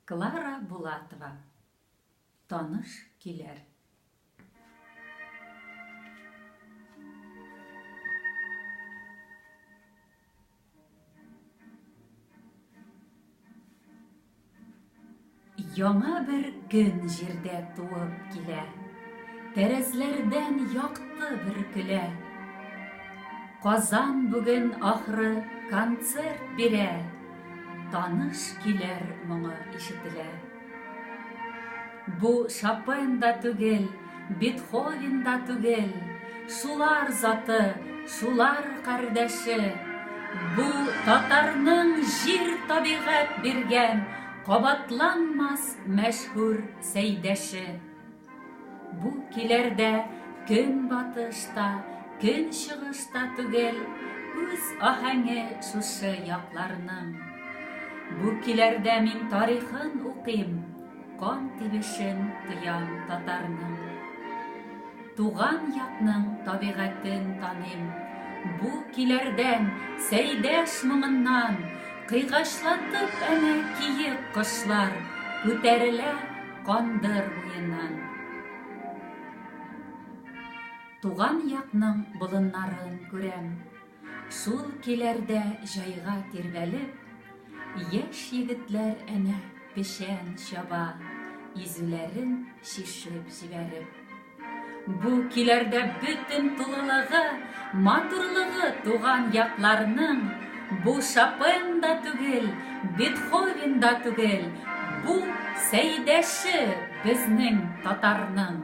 Клара Булатова таныш киләр. Яңа бер көн җирдә туып килә, Тәрәзләрдән якты бер көлә. Казан бүген ахры концерт бирә, Таныш килер моңы ишетелә. Бу Шопен да түгел, Бетховен да түгел, Шулар заты, шулар кардәше. Бу татарның җир табигать биргән Кабатланмас мәшһүр сәйдәше. Бу килер дә көнбатыш та, көнчыгыш та түгел, үз аһәңе шушы якларның. Бу килер дә мин тарихын укыйм, кан тибешен тоям татарның. Туган якның табигатен таныйм, бу килердән, Сәйдәш моңыннан, кыйгачлатып әнә киек кошлар күтәрелә, Кандыр буеннан. Туган якның болыннарын күрәм. Сул киләрдә җайга тирбәлеп, Яшь егетләр әнә печән чаба, Изүләрен чишеп җибәреп. Бу киләрдә бөтен тулылыгы, матурлыгы туган якларның, бу Шопен да түгел, Бетховен да түгел, бу Сәйдәше безнең татарның.